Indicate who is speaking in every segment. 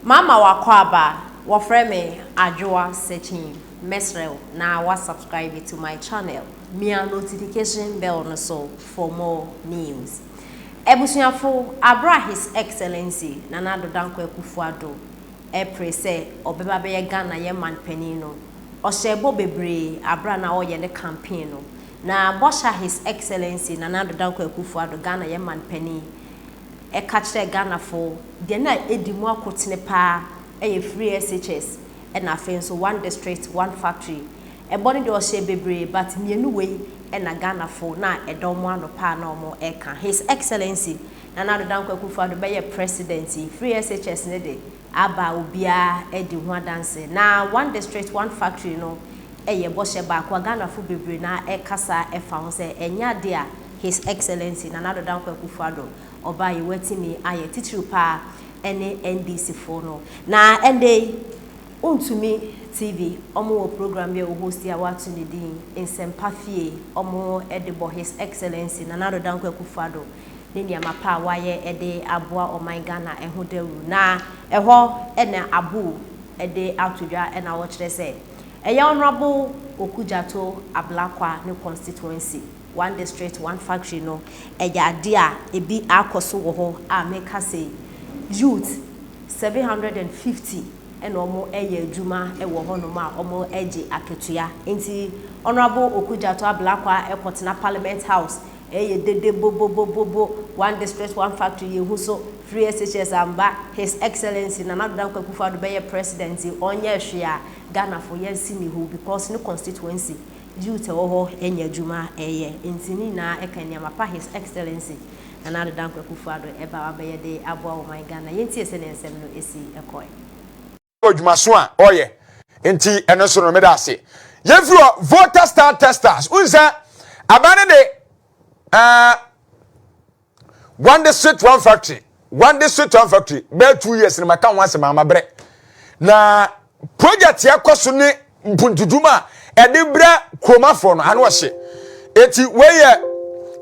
Speaker 1: Mama w'akwaaba, wɔfrɛ me Adwoa Sekyin, mɛsrɛ wo na wa subscribe to my channel, mia notification bell no so for more news. Abusuafo, aber a His Excellency Nana Addo Dankwa Akufo-Addo repere sɛ ɔbɛba bɛyɛ Ghana yɛn manpanin no, ɔhyɛɛ bɔ bebree aber a na ɔreyɛ ne campaign no, na bɔhyɛ a His Excellency Nana Addo Dankwa Akufo-Addo, Ghana yɛn manpanin, ɛka kyerɛ Ghanafoɔ deɛ na ɛdi mu akotene paa yɛ Free SHS ɛna afei nso One District, One Factory. Ɛbɔ no deɛ ɔhyɛɛ bebree but mmienu wei na Ghanafoɔ na ɛda wɔn ano paa na wɔreka. His Excellency Nana Addo Dankwa Akufo-Addo bɛyɛ President yi, Free SHS no de aba obiara di ho adanse. Na One District, One Factory no yɛ bɔhyɛ baako a Ghanafo bebree no ara rekasa fa ho sɛ ɛnyɛ ade a His Excellency Nana Addo Dankwa Akufo-Addo ɔbaa yi watumi ayɛ, titiriw pa ara ne NDCfo no. Na ɛnnɛ yi, Wontumi TV, wɔwɔ program bi a wɔhosti a wɔato ne din Nsɛmpa Fie, wɔde bɔ His Excellency Nana Addo Dankwa Akufo-Addo ne nneɛma pa a wayɛ de aboa ɔman Ghana ho dawuru na ɛhɔ na abow de ato dwa na wɔkyerɛ sɛ ɛyɛ Honourable Oku Gyato Ablakwa ne constituency, one district, one factory no ɛyɛ adeɛ a ɛbi akɔ so wɔ hɔ a meka sei youth seven hundred and fifty na wɔyɛ adwuma wɔ hɔnom a wɔgye akatua nti Honourable Oku Gyato Ablakwa kɔtena Parliament House Ɛyɛ dede bobobobobo one district one factory yɛhu so free SHS amba his excellency Nana Addo Dankwa Akufo Addo bɛyɛ president yi ɔnyɛɛ hwee a Ghana fo yɛn se ne hu because ne constituency youth ɛwɔ hɔ nya adwuma ɛyɛ nti ne nyinaa ɛka nneɛma pa his excellency Nana Addo Dankwa Akufo Addo ɛba wabɛyɛ de aboa ɔman Ghana yɛntie sɛdeɛ nsɛm no si kɔɛ. wɔ adwumaso
Speaker 2: a ɔyɛ nti ɛno nso no meda ase yɛfiri hɔ voter star testers wohu sɛ aban no de uh, one district one factory one district one factory bɛyɛ two years no maka ho asɛm ama berɛ na project yɛkɔ so ne mpuntudum a ɛde brɛ kuromafoɔ no ano ɔhye. Eti wei yɛ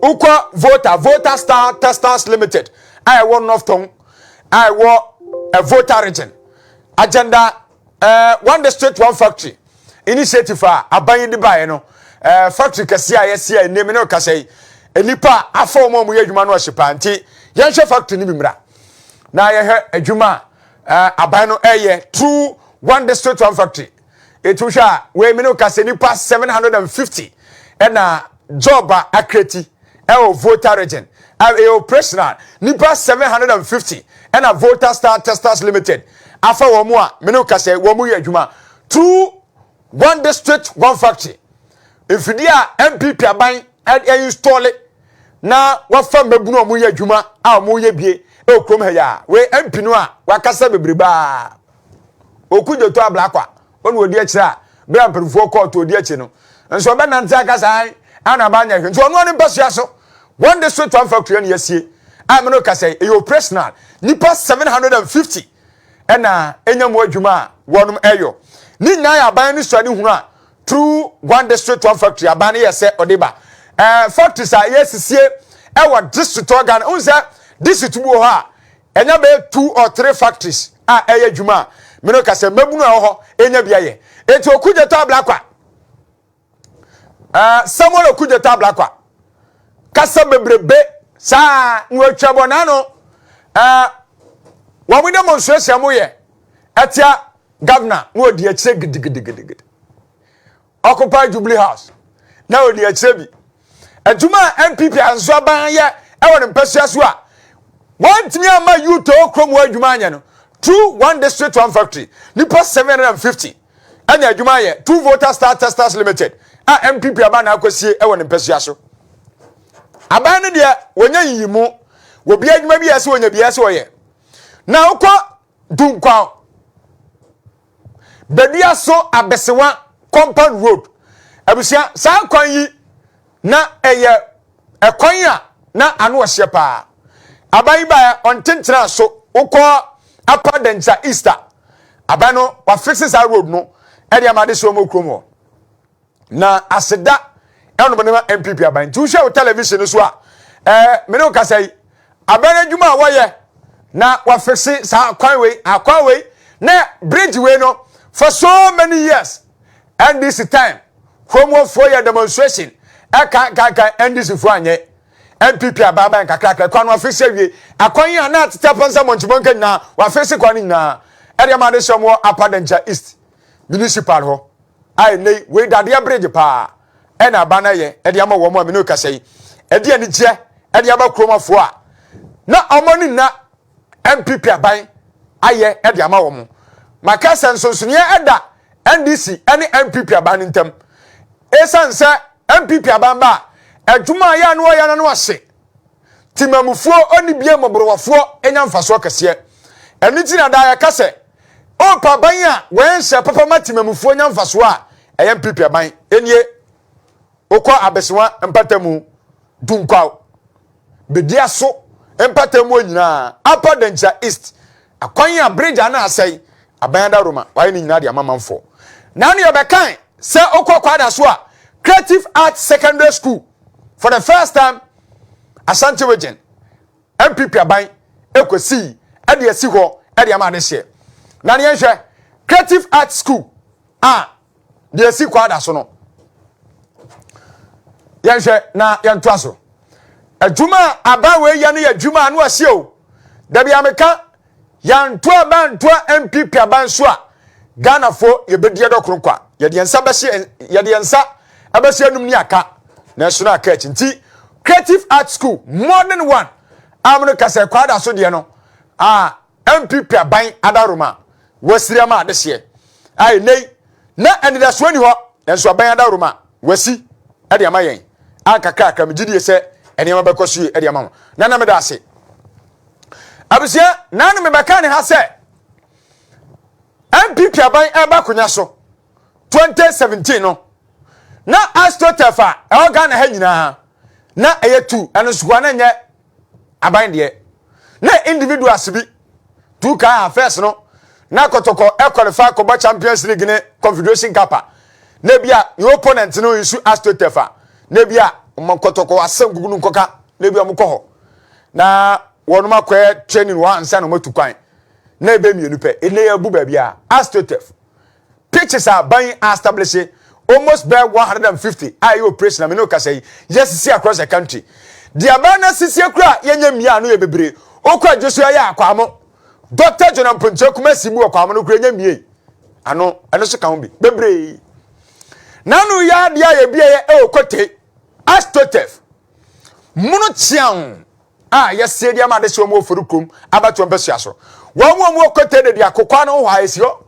Speaker 2: wokɔ Volta, Volta Star Textiles Limited a ɛwɔ North Tong a ɛwɔ eh, Volta Region. Agenda eh, One District One Factory initiative a aban yi de baeɛ no, eh, factory kɛseɛ a yɛasi a ɛnnie me ne ɔkasa yi, nnipa afa wɔn a wɔyɛ adwuma no ɔhye paa nti yɛnhwɛ factory no bi mmra na yɛhwɛ adwuma a Eh, aban no ɛyɛ true one district one factory etu hwɛ a wei mene ka sɛ nipa 750 ɛna job a akreti ɛwɔ Volta region ɛyɛ operational nipa 750 ɛna Volta Star Testers Limited afa wɔn a mene ka sɛ wɔn yɛ adwuma true One District, One Factory, mfidie a NPP aban ainstɔɔle na wafa mmabunu a wɔyɛ adwuma a wɔyɛ bie wɔ kurom ha yi a, wei MP no a wakasa bebrebe a, Oku Dwoto Ablakwa, ɔna ɔdi akyire a, berɛ a mpanimfoɔ kɔɔ to ɔdi akyi no, nso ɔbɛnante aka saa ana aba anyɛ hwee, nti ɔno ne mpasua so One District, One Factory na yɛasie a me no kasa yi, ɛyɛ operational, nnipa 750. na enya mu adwuma a wɔnom yɔ. Ne nyinaa yɛ aban no suade hunu a through one district one factory aban no yɛ sɛ ɔde ba. Eh, factories a yɛsisie ɛwɔ district ɔ Ghana. Ohun sɛ district bi wɔ hɔ a ɛnya bɛyɛ two or three factories a ɛyɛ adwuma a mene ka sɛ mmabunu a ɛwɔ hɔ enya bi ayɛ. Enti Okudzeto Ablakwa. Uh, Samuel Okudzeto Ablakwa. Kasa bebrebe saa na wɔatwa bɔ n'ano. Uh, wɔn de mo nsuasua mo yɛ atia governor na wɔdi akyire gidigidigidi. Occupy Jubilee House na wɔdi akyire bi. Adwuma a NPP anso aban anyɛ wɔ ne mpasua so a wɔantumi amma Yutoo kurom hɔ adwuma anyɛ no, Two One District One Factory, nnipa 750 anya adwuma ayɛ, Two Volta Star Testers Limited a NPP aban na akɔsie wɔ ne mpasua so. Aban no deɛ wɔnya nyiyimu, wɔbia adwuma bi yɛ sɛ wɔnya biara sɛ wɔyɛ. Na wokɔ Dunkwaw, Baduaso Abesewa Compound Road. Abusua, saa kwan yi na ɛyɛ ɛkwan a na ano ɔhyeɛ paa. Aban yi baeɛ ɔntentenaa so, wokɔ Upper Dangya East a, aban no wɔafixe saa road no de ama adesoa mu kurom hɔ. na aseda ɛnom ne ma npp aban nti wohwɛ wo television no so a ɛɛ mene wo kasa yi aban adwuma a wɔyɛ na wɔafixe saa akwan wei akwan wei na bridge wei no for so many years ndc time kurom wɔfoɔ yɛ demonstration ɛkankankan ndc foɔ anyɛ npp aban aban kakrakra kwan no wɔafixe awie akwan yi a na atete apɔnsa mɔnkimɔnka nyinaa wɔafixe kwan no nyinaa ɛdeɛ ma ade hyɛ wɔn wɔ apadankya east municipal hɔ a ɛnnɛ yi wei dadeɛ bregye paa ɛna aba na yɛ ɛde ama wɔn a mene kasa yi ɛde anigyeɛ ɛde ama kurom afoɔ a na wɔn ani nna MPP aban ayɛ ɛde ama wɔn maka sɛ nsonsoneɛ ɛda NDC ɛne MPP aban no ntam ɛsiane sɛ MPP aban ba a adwuma a yɛ ano ɔyɛ no ano ase Temamufoɔ ɔne bia mmɔborɔwafoɔ nya mfasoɔ kɛseɛ. Ɛno nti na daa yɛka sɛ ɔɔpɛ aban a wɔɛnhyɛ papa ma temamufoɔ nya mfasoɔ a ɛyɛ mpipi aban. Ɛnie wokɔ abesewa mpatamu dunkwaw bedia so mpatamuo nyinaa Upper Dankyira East akwan a bridge ano asɛe aban adaroma wɔayɛ ne nyinaa de ama manfoɔ. Na ne yɛbɛkan sɛ wokɔ kwaada so a Creative Arts Secondary School for the first time asante region npp aban kɔsii de asi hɔ de ama adehyeɛ na ne yɛnhwɛ creative art school a deɛ asi kɔ ada so no yɛnhwɛ na yɛntoa so adwuma a aban wei yɛ no yɛ adwuma a no aseɛ o dabi a meka Yɛantoa bɛantoa NPP aba nso a, Ghanafoɔ yɛbɛdi yɛdɔ koro nkwa. Yɛde yɛn nsa bɛhyɛ yɛde yɛn nsa ɛbɛhyɛ anum ne aka, nanso na aka akyi nti Creative Art School modern one a mono ka sɛ kwaada so deɛ no a NPP aban adaworoma wasiri ama adehyeɛ a ɛnɛ yi na anidasoɔ ni hɔ nanso aban adaworoma wasi ɛde ama yɛn a kakrakra megye die sɛ nneɛma bɛkɔ so yie ɛde ama ho na na meda ase abusua naa no mebɛka ne ha sɛ npp aban ɛba akonya so 2017 no na astotef a ɛwɔ ghana ha nyinaa na ɛyɛ tu ɛno nsokoa na ɛnyɛ aban deɛ na individuals bi tu kaa ha first no na kɔtɔkɔ ɛkɔlifa kɔbɔ champions league ne confederation cup a na ebi a ne opponent no nsu astotef a na ebi a ɔmo kɔtɔkɔ asɛm gugu no nkɔka na ebi a ɔmo kɔ hɔ Na wɔakɔyɛ training wɔ hɔ ansa na wɔatu kwan. Na ɛbɛ mmienu pɛ. Ɛnɛ yɛabu baabi a AstroTurf pitches a aban yi astablishe almost bɛyɛ 150 a ɛyɛ operation a me ne wo kasa yi yɛasisi across the country. Deɛ aban no asisie koraa a yɛnyɛ mmiaa no yɛ bebree. Wokɔ agye so yɛayɛ akwamo. Doctor John Amponkyerɛ Kumasi mu wɔ kwamo no koraa yɛnyɛ mmiei. Ano ɛno so ka ho bi bebree. Nano yɛ adeɛ a yɛbi ɛyɛ ɛwɔ Kotei AstroTurf Mono kyeaw a yɛsɛ de ama adehyeɛ mu wɔ Farukom abatoɔ mpasua so. Wɔn wɔn wɔ Kotɛ de di akokwa no ho hɔ a esi hɔ.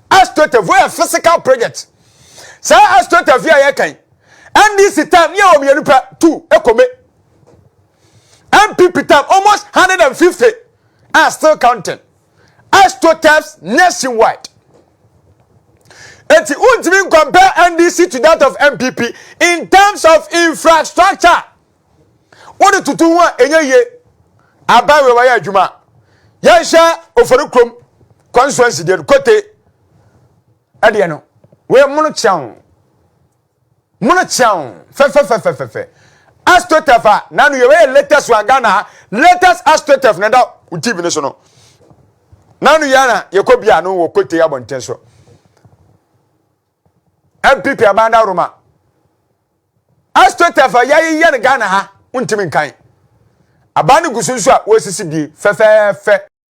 Speaker 2: Astota voa yɛ physical project. Saa Astota via yɛ kan. NDC tam yɛ wɔ mmienu pɛ tu ekome. NPP tam almost 150 are still counting. Astroturfs nationwide. Enti wontumi ncompare NDC to that of NPP in terms of infrastructure. Wode tutu ho a ɛnyɛ yie. Aban wei wayɛ adwuma. Yɛnhyɛ ofori kurom constituency deɛ no kote ɛdeɛ no wei mono kyɛn. Mono kyeaw fɛfɛfɛfɛfɛfɛ. Astroturf a n'ano yɛ wei yɛ latest one Ghana ha latest astroturf na ɛda TV no so no n'ano yɛ na yɛkɔ bia no wɔ Kote abɔnten so MPP Abanda Roma astroturf a yɛayeyɛ no Ghana ha wontumi nkan aban no gu so nso a wɔresisi bie fɛfɛɛfɛ